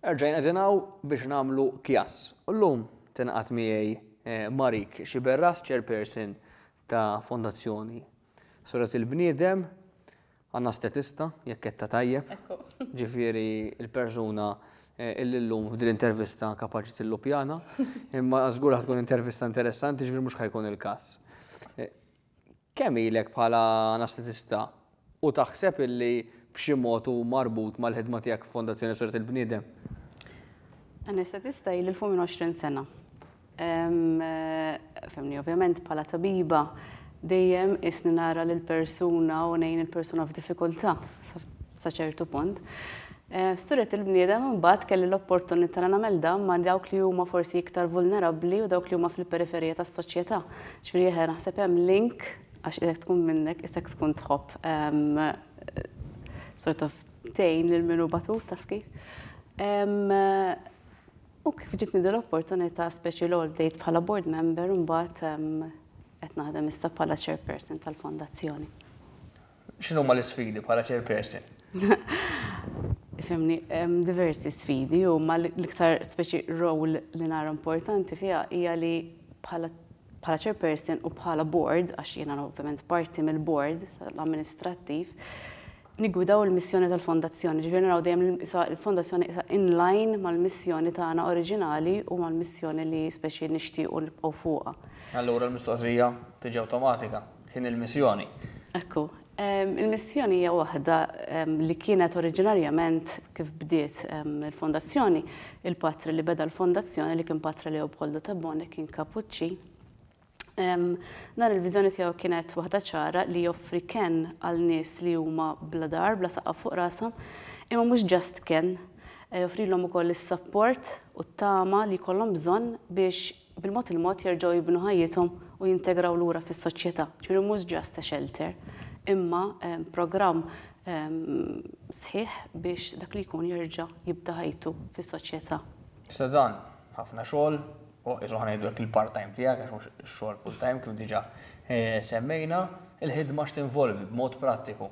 Erġajna qegħdin hawn biex nagħmlu kjass. U llum tingħaqad miegħi eh, Marik Xiberras, chairperson ta' Fondazzjoni Surat il-Bniedem, għandna statista, jekk qed ta' tajjeb. Ġifieri il-persuna eh, illi llum f'din intervista kapaċi tillupjana, imma żgur tkun intervista interessanti ġifieri mhux ħajkun il-każ. Eh, Kemm ilek bħala anesthetista u taħseb illi b'xi mod hu marbut mal-ħidma tiegħek f'Fondazzjoni Sirt il-Bniedem? Anesthetista ili l-fuq minn 20 sena. Fehmni, ovvjament bħala tabiba dejjem qisni nara lill-persuna u ngħin il-persuna f'diffikultà. sa ċertu punt. F'sura tal-bniedem imbagħad kelli l-opportunità li nagħmel dan ma' dawk li huma forsi iktar vulnerabbli u dawk li huma fil-periferija tas-soċjetà. Ġifieri eħe naħseb hemm link għax jekk tkun minnek isek tkun tħobb sort of tgħin lil min hu batut taf kif. U kif ġitni din l-opportunità speċi l-għol bdejt bħala board member imbagħad qed naħdem issa bħala chairperson tal-fondazzjoni. X'inhuma l-isfidi bħala chairperson? Fimni, hemm diversi sfidi u ma l-iktar speċi role li nara importanti fiha hija li bħala bħala chairperson u bħala board, għax jiena ovvjament parti mill-board l-amministrattiv, nigwidaw il-missjoni tal-fondazzjoni, ġifieri naraw dejjem il-fondazzjoni isa inline mal-missjoni tagħna oriġinali u mal-missjoni li speċi nixtiequ nibqgħu fuqha. Allura l-mistoqsija tiġi awtomatika. X'inhi l-missjoni? Ekku, il-missjoni hija waħda li kienet oriġinarjament kif bdiet il-fondazzjoni, il-patri li beda l-fondazzjoni li kien patri li Leopoldo Tabone kien kapuċċi. Dan il-viżjoni tiegħu kienet waħda ċara li joffri ken għal nies li huma bla dar, bla saqqa fuq rashom, imma mhux ġast ken, eh, joffrilhom ukoll is-sapport u t-tama li jkollhom bżonn biex bil-mod il-mod jerġgħu jibnu ħajjithom u jintegraw lura fis-soċjetà. Ġifieri mhux just a shelter, imma programm sħiħ biex dak li jkun jerġa' jibda ħajtu fis-soċjetà. Issa dan ħafna xogħol, u qisu ħa ngħidu hekk il-part time tiegħek għax mhux ix-xogħol full time kif diġà semmejna. Il-ħidma x'tinvolvi b'mod prattiku?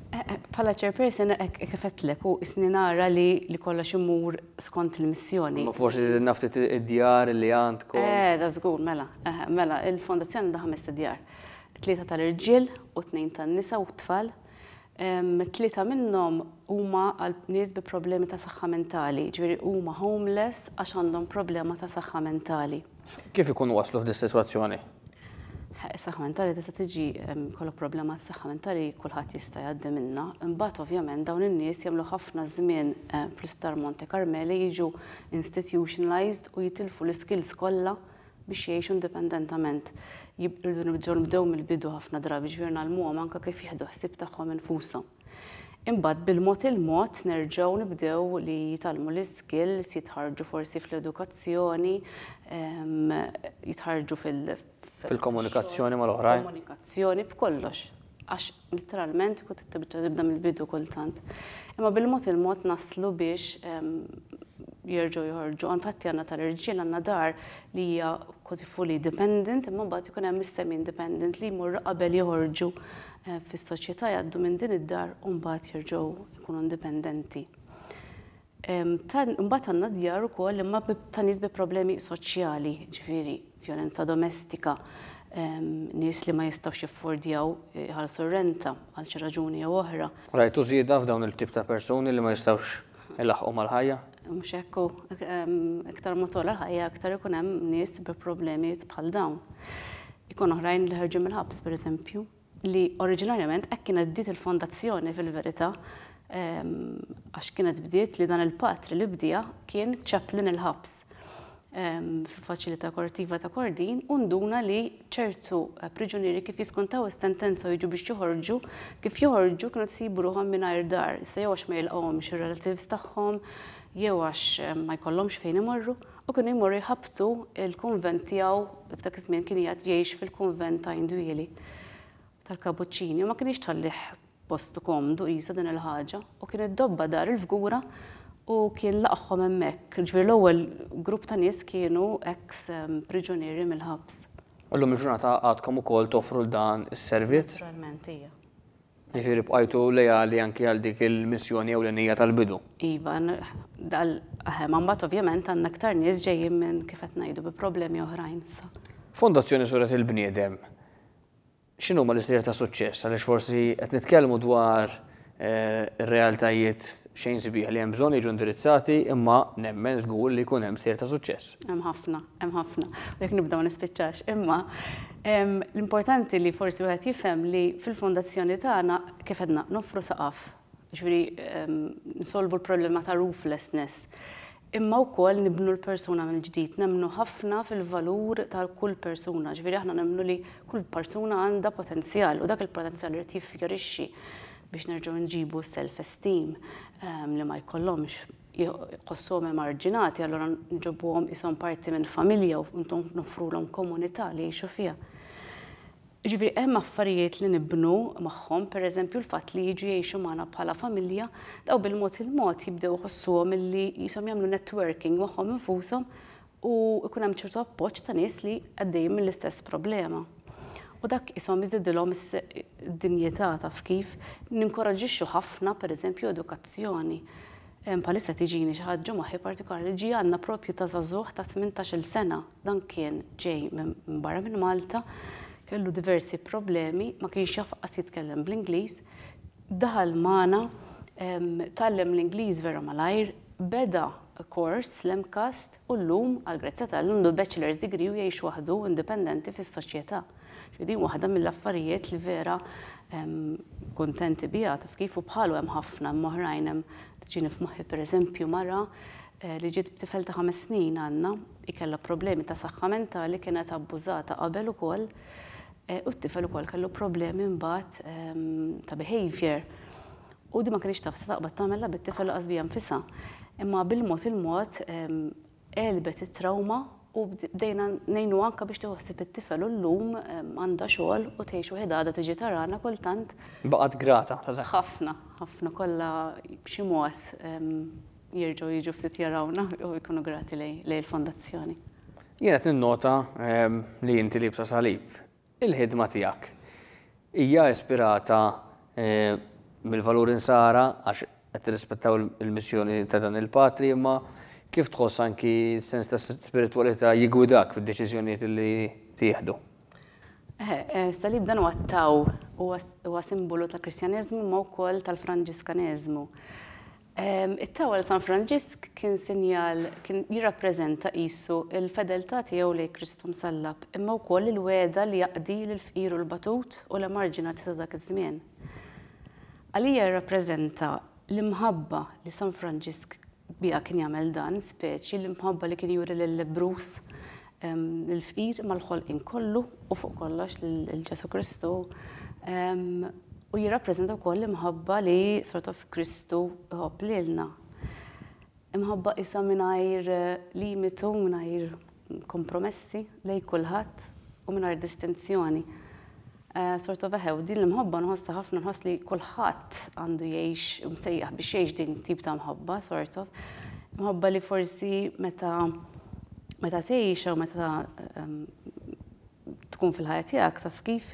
Bħala chairperson hekk kif għedtlek u isni nara li li kollox imur skont il-missjoni. Ma forsi żidna ftit id-djar li għandkom. Eh, da żgur, mela, eh, mela, il-fondazzjoni għandha ħamest id-djar. Tlieta tal-irġiel u tnejn tan-nisa u t-tfal. Tlieta minnhom huma għal nies bi problemi ta' saħħa mentali, ġifieri huma homeless għax għandhom problema ta' saħħa mentali. Kif ikunu waslu f'di s-sitwazzjoni? Is-saħħa mentali tista' tiġi kollok problema tas-saħħa mentali kulħadd jista' jgħaddi minnha. Imbagħad ovvjament dawn in-nies jagħmlu ħafna żmien fl-Isptar Monte Carmeli jiġu institutionalized u jitilfu l-iskills kollha biex jgħixu indipendentament. Irridu nerġgħu nibdew mill-bidu ħafna drabi, jiġifieri ngħallmuhom anke kif jieħdu ħsieb tagħhom infushom. Imbagħad bil-mod il-mod nerġgħu nibdew li jitgħallmu l-iskills, jitħarrġu forsi fl-edukazzjoni, jitħarrġu fil- Fil-komunikazzjoni mal-oħrajn. Komunikazzjoni, f'kollox. Għax letteralment kont tibda tibda mill-bidu kultant. Imma bil-mod il-mod naslu biex jerġgħu joħorġu. Infatti għandna tal-irġiel għandna dar li hija kważi fully dependent imma mbagħad ikun hemm is-semi independent li jmorru qabel joħorġu fis-soċjetà jgħaddu minn din id-dar u mbagħad jerġgħu jkunu indipendenti. Mbagħad għandna djar ukoll imma ta' nies bi problemi soċjali, ġifieri vjolenza domestika, nies li ma jistgħux jaffordjaw iħallsu r-renta għal xi raġuni jew oħra. Rajtu żieda f'dawn il-tip ta' persuni li ma jistgħux ilaħħqu mal-ħajja? Mhux hekk hu, iktar ma togħla l-ħajja iktar ikun hemm nies bi problemi bħal dawn. Ikun oħrajn li ħarġu mill-ħabs pereżempju, li oriġinarjament hekk kienet bdiet il-fondazzjoni fil-verità għax kienet bdiet li dan il-patri li bdieha kien chaplain il-ħabs. fil-Faċilità Korrettiva ta' Kordin u nduna li ċertu priġunieri kif jiskontaw is-sentenza u jiġu biex joħorġu, kif joħorġu kienu qed isibu ruħhom mingħajr dar, issa jew għax ma jilqgħuhomx ir-relatives tagħhom jew għax ma jkollhomx fejn imorru u kienu jmorru jħabbtu l-kunvent tiegħu, f'dak iż-żmien kien qiegħed jgħix fil-kunvent ta' Indwieli tal-Kapuċċini u ma kinitx tħallih Postu komdu qisha din il-ħaġa u kien iddobba dar il-Fgura u kien laqagħhom hemmhekk. Jiġifieri l-ewwel grupp ta' nies kienu eks priġunieri mill-ħabs. U llum il-ġurnata għadkom ukoll toffru dan is-servizz? Naturalment, ija. Jiġifieri bqajtu leali anki għal dik il-missjoni ewlenija tal-bidu? Iva, dal, eħe, ma mbagħad ovvjament għandna iktar nies ġejjin minn, kif qed ngħidu, bi problemi oħrajn issa. Fondazzjoni Suret il-Bniedem, X'inhuma l-istejjer ta' suċċess? Għaliex forsi qed nitkellmu dwar ir-realtajiet xejn sbieħ li hemm bżonn jiġu indirizzati, imma nemmen żgur li jkun hemm stejjer ta' suċċess. Hemm ħafna, hemm ħafna. U jekk nibda ma nispiċċax. Imma l-importanti li forsi wieħed jifhem li fil-fondazzjoni tagħna, kif għedna, noffru saqaf. Jiġifieri nsolvu l-problema ta' rooflessness. imma wkoll nibnu l-persuna mill-ġdid, nemmnu ħafna fil-valur ta' kull persuna, ġifieri aħna nemmnu li kull persuna għandha potenzjal u dak il-potenzjal irid jiffjorixxi biex nerġgħu nġibu s-self esteem li ma jkollhomx, jħossuhom emarġinati allura nġibuhom qishom parti minn familja u noffrulhom komunità li jgħixu fiha. Jiġifieri hemm affarijiet li nibnu magħhom, pereżempju l-fatt li jiġu jgħixu magħna bħala familja, dawn bil-mod il-mod jibdew iħossuhom illi qishom jagħmlu networking magħhom infushom u jkun hemm ċertu appoġġ ta' nies li għaddejjin mill-istess problema. U dak qishom iżidilhom id-dinjità taf kif? Ninkoraġġixxu ħafna pereżempju edukazzjoni. Bħalissa tiġini xi ħaġġa moħħi partikolari li ġie għandna propju ta' żagħżugħ ta' tmintax-il sena. Dan kien ġej minn barra minn Malta, kellu diversi problemi, ma kienx jaf qas jitkellem bl-Ingliż, daħal magħna, tgħallem l-Ingliż vera malajr, beda kors l-MCAST, U llum, għall-grazzja t'Alla, għandu l-bachelor's degree u jgħix waħdu indipendenti fis-soċjetà. Ġifieri din waħda mill-affarijiet li vera kuntenti biha, taf kif, u bħalu hemm ħafna, hemm oħrajn, hemm tiġini f'moħħi pereżempju mara li ġiet b'tifel ta' ħames snin għandna, hi kellha problemi ta' saħħa mentali, kienet abbużata qabel ukoll u t-tifel ukoll kellu problemi mbagħad ta' behaviour. U din ma kinitx taf se taqbad tagħmilha bit-tifel lanqas biha nfisha. Imma bil-mod il-mod għelbet it-trawma u bdejna ngħinuha anke biex tieħu ħsieb it-tifel u llum għandha xogħol u tgħix waħidha għadha tiġi tarana kultant. Baqgħet grata ta' dan. Ħafna, ħafna. Kollha b'xi mod jerġgħu jiġu ftit jarawna u jkunu grati lejn il-Fondazzjoni. Jien qed ninnota li inti liebsa salib. Il-ħidma tiegħek hija ispirata mill-valuri Nsara għax qed tirrispettaw il-missjoni ta' dan il-Patri, imma kif tħoss anki s-sens ta' spiritwalità jiggwidak fid-deċiżjonijiet li tieħdu? Is-Salib dan huwa t-tau, huwa simbolu tal-Kristjaneżmu imma wkoll tal-Franġiskaneżmu. It-Tower ta' San Franġisk kien sinjal, kien jirrappreżenta qisu l-fedeltà tiegħu lejn Kristu Msallab, imma wkoll il-wegħda li jaqdi lill-fqir u l-batut u l-emarġinati ta' dak iż-żmien. Għalija jirrappreżenta l-imħabba li San Franġisk biha kien jagħmel dan, speċi l-imħabba li kien juri lil-lebbruż lill-fqir imma l-ħolqien kollu u fuq kollox lil Ġesù Kristu. U jirrappreżenta wkoll l-imħabba li sort of Kristu iħobb lilna. Imħabba isa mingħajr limitu, mingħajr kompromessi lej kulħadd u mingħajr distinzjoni. Sort of eħe, u din l-imħobba nħossha ħafna, nħoss li kulħadd għandu jgħix u msejjaħ biex jgħix din it-tip ta' mħobba, sort of. Mħobba li forsi meta meta tgħixha u meta tkun fil-ħajja tiegħek saf kif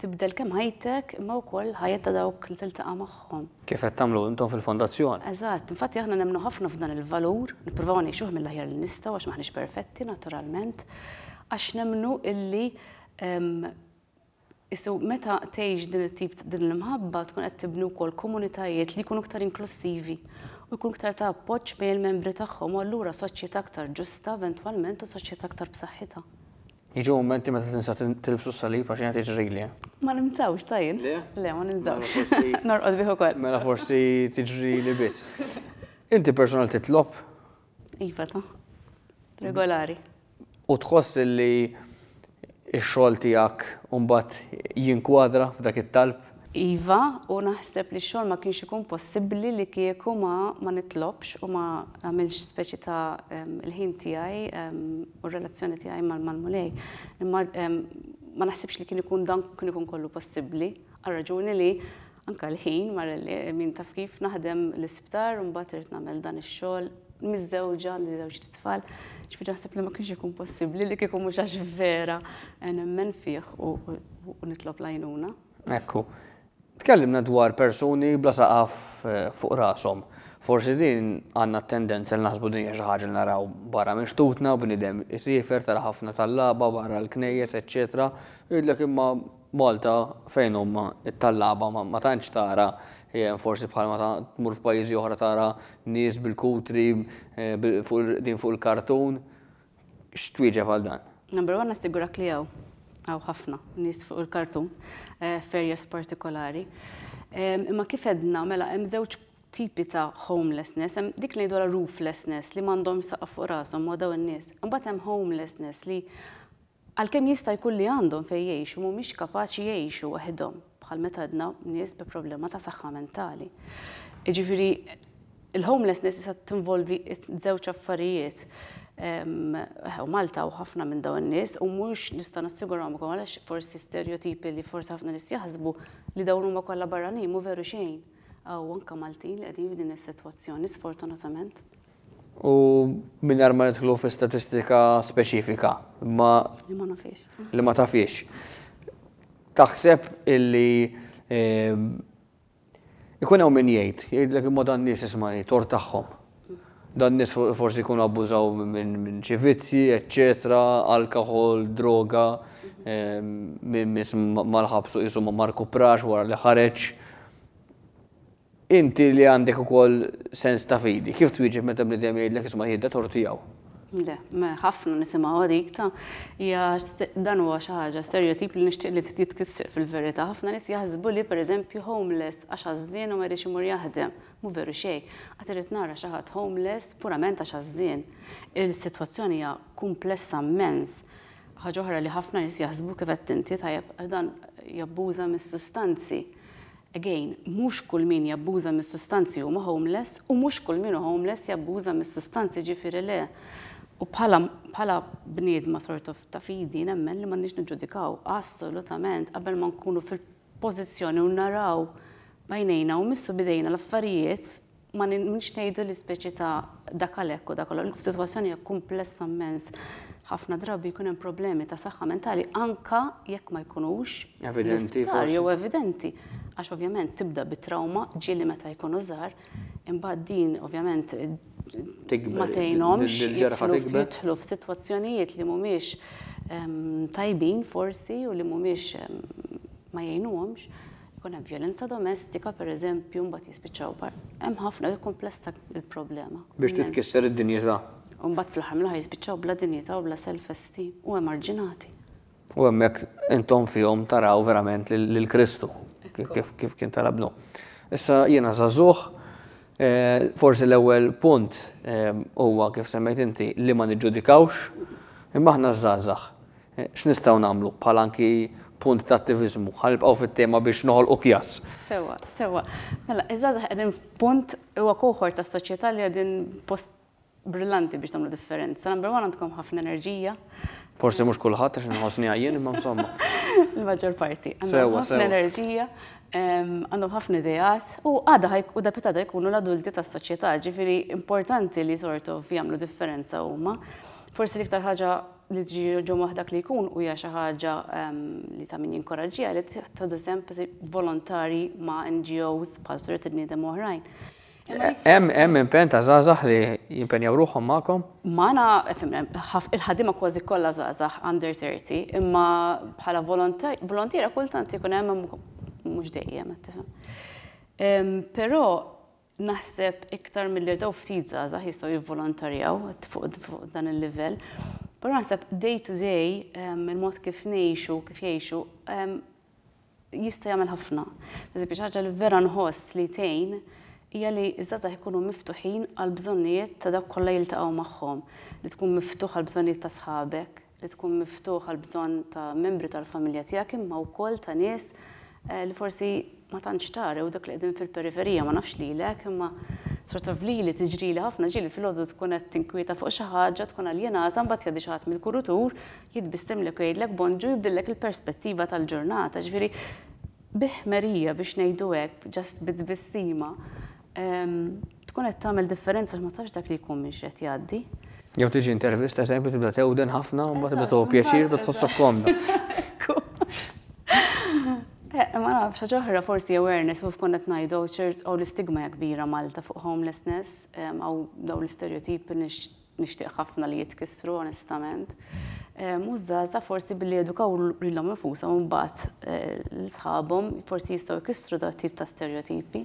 tibdel kemm ħajtek imma wkoll ħajja ta' dawk li tiltaqa' magħhom. Kif qed tagħmlu intom fil-fondazzjoni. Eżatt, infatti aħna nemmnu ħafna f'dan il-valur, nippruvaw ngħixuh mill-aħjar li nistgħu għax m'aħniex perfetti naturalment, għax nemmnu illi Issa meta tgħix din it-tip din l-imħabba tkun qed tibni wkoll komunitajiet li jkunu iktar inklussivi u jkun iktar ta' appoġġ bejn il-membri tagħhom u allura soċjetà aktar ġusta eventwalment u soċjetà aktar b'saħħitha. Jiġu mumenti meta tinsa tilbsu s-salib għax jiena tiġrili. Ma nilbsawx ta' jien. Le? Le ma nilbsawx. Norqod bih ukoll. Mela forsi tiġrili biss. Inti personal titlob? Iva ta' regolari. U tħoss li x-xogħol tiegħek mbagħad jinkwadra f'dak it-talb? Iva, u naħseb li x-xogħol ma kienx ikun possibbli li kieku ma ma nitlobx u ma nagħmilx speċi ta' l-ħin tiegħi u r-relazzjoni tiegħi mal-Mulej. Imma ma naħsibx li kien ikun dan kien ikun kollu possibbli għal raġuni li Anke l-ħin mar li min taf kif naħdem l-isptar u mbagħad irid nagħmel dan ix-xogħol. Miżżewġa, għandi żewġ tfal, ġifieri naħseb li ma kienx ikun possibbli li kieku mhux għax vera nemmen fih u nitlob l-għajnuna. Hekk hu. Tkellimna dwar persuni bla saqaf fuq rashom. Forsi din għandna t-tendenza li naħsbu din hija xi ħaġa li naraw barra minn xtutna, bniedem isiefer, tara ħafna tal-lagħba barra l-knejjes, eċċetera, u jgħidlek imma Malta fejn huma t-tallaba ma tantx tara hemm forsi bħal meta tmur f'pajjiżi oħra tara nies bil-kutri qegħdin fuq il-kartun. X'twieġeb għal dan? Number one nassigurahk li hawn. Hawn ħafna nies fuq il-kartun f'areas partikolari. Imma kif għedna mela hemm żewġ tipi ta' homelessness, hemm dik li ngħidulha rooflessness li m'għandhomx saqaf fuq rashom, ma dawn in-nies. Imbagħad hemm homelessness li Għalkemm jista' jkun li għandhom fejn jgħixu mhumiex kapaċi jgħixu waħedhom, bħal meta għedna nies bi problema ta' saħħa mentali. Jiġifieri l-homelessness tista' tinvolvi żewġ affarijiet. Eħe, Malta u ħafna minn dawn in-nies u mhux nista' nassigurahomkom għalax forsi stereotipi li forsi ħafna nies jaħsbu li dawn huma kollha barranin mhu veru xejn. Hawn anke Maltin li qegħdin f'din is-sitwazzjoni sfortunatament. U mingħajr ma nidħlu fi statistika speċifika, imma. Li ma nafhiex. Li ma tafhiex. Taħseb illi ikun hawn min jgħid, jgħidlek imma dan nies isma' hi tort tagħhom. Dan nies forsi jkunu abbużaw minn xi vizzji, eċċetera, alkoħol, droga, min miss mal-ħabs u qisu ma rkuprax wara li ħareġ. Inti li għandek ukoll sens ta' fidi, kif twieġeb meta bniedem jgħidlek isma' jien d-dottor tiegħu? Le, ma ħafna nisimgħu għadik ta' hija dan huwa xi ħaġa stereotip li nixtieq li jitkisser fil-verità. Ħafna nies jaħsbu li pereżempju homeless għax għażżien u ma jridx imur jaħdem. Mhu veru xejn. Qatt irrid nara xi ħadd homeless purament għax għażżien. Il-sitwazzjoni hija kumplessa mmens. Ħaġa oħra li ħafna nies jaħsbu kif għedt inti tajjeb għax dan jabbuża mis-sustanzi. Again, mhux kull min jabbuża mis-sustanzi huma homeless u mhux kull min hu homeless jabbuża mis-sustanzi ġifieri le. U bħala bħala bniedma sort of ta' fidi nemmen li m'għandniex niġġudikaw assolutament qabel ma nkunu fil-pożizzjoni u naraw b'għajnejna u mmissu b'idejna l-affarijiet Ma nix ngħidu li speċi ta' dak għal hekk u dak għal f'sitwazzjoni hekk kumplessa mmens ħafna drabi jkun hemm problemi ta' saħħa mentali anke jekk ma jkunux evidenti jew evidenti għax ovvjament tibda bi trawma ġieli meta jkunu żgħar imbagħad din ovvjament ma tgħinhomx jidħlu f'sitwazzjonijiet li mhumiex ehm, tajbin forsi u li mhumiex ehm, ma jgħinuhomx. Ikun hemm vjolenza domestika, pereżempju, mbagħad jispiċċaw par. Hemm ħafna, hi kumplessa l-problema. Biex titkisser id-dinjità. U mbagħad fl-aħħar mill-aħħar jispiċċaw bla dinjità u bla self-esteem u emarġinati. U hemmhekk intom fihom taraw verament lil Kristu, kif kien tara Bnu. Issa jiena żagħżugħ, forsi l-ewwel punt huwa kif semmejt inti li ma niġġudikawx, imma aħna ż-żgħażagħ. X'nistgħu nagħmlu, bħala anki punt ta' attiviżmu? Ħa nibqgħu fit-tema biex noħolqu kjass. Sewwa, sewwa. Mela, iż-żgħażagħ qegħdin f'punt, huwa kohort tas-soċjetà li qegħdin f'post brillanti biex tagħmlu differenza. Number one għandkom ħafna enerġija. Forsi mhux kulħadd għax inħossniha jien, imma insomma. Il-maġġor parti. Sewwa, sewwa. Għandhom ħafna enerġija, għandhom ħafna ideat u għada ħaj, u darbtejn għada jkunu l-adulti tas-soċjetà, ġifieri importanti li sort of jagħmlu differenza huma. Forsi l-iktar ħaġa, li tiġi ġewwa dak li jkun hija xi ħaġa li ta' min jinkoraġġiha li tieħdu sehem volontari ma' NGOs bħal Suriet il-Bniedem oħrajn. Hemm impenn ta' żgħażagħ li jimpenjaw ruħhom magħkom? Magħna il-ħaddiema kważi kollha żgħażagħ under 30, imma bħala volontiera kultant ikun hemm mhux dejjem qed tifhem. Però Naħseb iktar milli dawn ftit żgħażagħ jistgħu jivvolontarjaw fuq dan il-livell. Però naħseb day to day, ehm, il-mod kif ngħixu, kif jgħixu, ehm, jista' jagħmel ħafna. Eżempju, xi ħaġa li vera nħoss li tgħin hija li ż-żgħażagħ ikunu miftuħin għall bżonnijiet ta' dawk kollha jiltaqgħu magħhom, li tkun miftuħ għall bżonnijiet ta' sħabek, li tkun miftuħ għall-bżonn ta' membri tal-familja tiegħek imma wkoll ta' nies li forsi ma tantx tara jew dak li qegħdin fil-periferija, ma nafx lilek imma sort of lili tiġrili ħafna ġieli filgħodu tkun qed tinkwieta fuq xi ħaġa, tkun aljenata mbagħad jgħaddi xi ħadd mill-kurutur, jitbissimlek u jgħidlek bonġu jibdillek il-perspettiva tal-ġurnata, ġifieri bi ħmerija biex ngħidu hekk, just bi tbissima, Tkun qed tagħmel differenza ma tafx dak li jkun minn x'qed jgħaddi. Jew tiġi intervista eżempju tibda tewden ħafna u ma tibda tuħu pjaċir u tħossok komda. Eh, ma nafx, ġoħra forsi awareness u fkun qed ngħidu ċert u l-istigma kbira Malta fuq homelessness, għaw daw l-istereotipi nixtieq ħafna li jitkissru onestament. Mużżaza forsi billi edukaw lilhom infushom mbagħad eh, l-sħabhom forsi jistgħu jkissru da tip ta' stereotipi.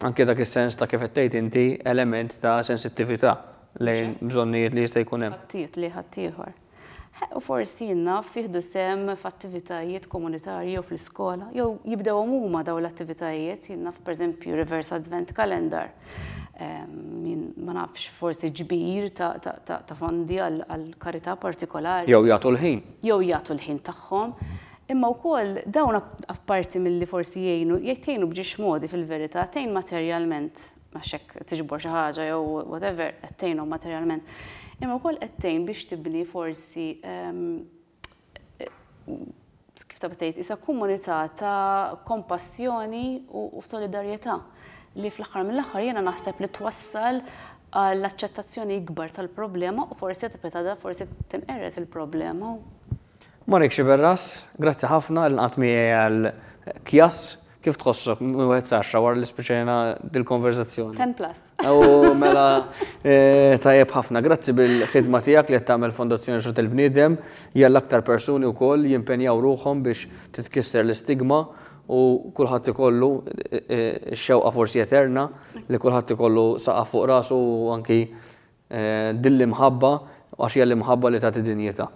Anke dak is-sens ta' kif qed tgħid inti element ta' sensittività lejn bżonnijiet li jista' jkun hemm. Ħadd li ħadd ieħor. Ħe, u forsi jien-naf jieħdu sehem f'attivitajiet komunitarji jew fl-iskola, jew jibdewhom huma dawn l-attivitajiet, jien-naf pereżempju reverse advent calendar, jien ma nafx forsi ġbir ta' fondi għal karità partikolari. Jew jagħtu l-ħin. Jew jagħtu l-ħin tagħhom. Imma wkoll dawn apparti milli forsi jgħinu, tgħinu b'ġiex modi fil-verità, tgħin materjalment, għax jekk tiġbor xi ħaġa jew whatever qed tgħinhom materjalment, imma wkoll qed tgħin biex tibni forsi kif taf tgħid, qisha komunità ta' kompassjoni u solidarjetà li fl-aħħar mill-aħħar jiena naħseb li twassal għal aċċettazzjoni ikbar tal-problema u forsi qed tibqgħetha forsi tinqered il-problema. Monique Sciberras, Grazzi ħafna li nqadt miegħi għal kjass. Kif tħossok minn wieħed sa għaxra wara li spiċċajna dil-konverżazzjoni? Ten plus. Aww mela tajjeb ħafna. Grazzi bil-ħidma tiegħek li qed tagħmel Fondazzjoni X'rad il-Bniedem jgħall aktar persuni wkoll jimpenjaw ruħhom biex titkisser l-istigma u kulħadd ikollu x-xewqa forsi eterna li kulħadd ikollu saqaf fuq rasu u anki din l-imħabba għax hija l-imħabba li tagħti dinjità.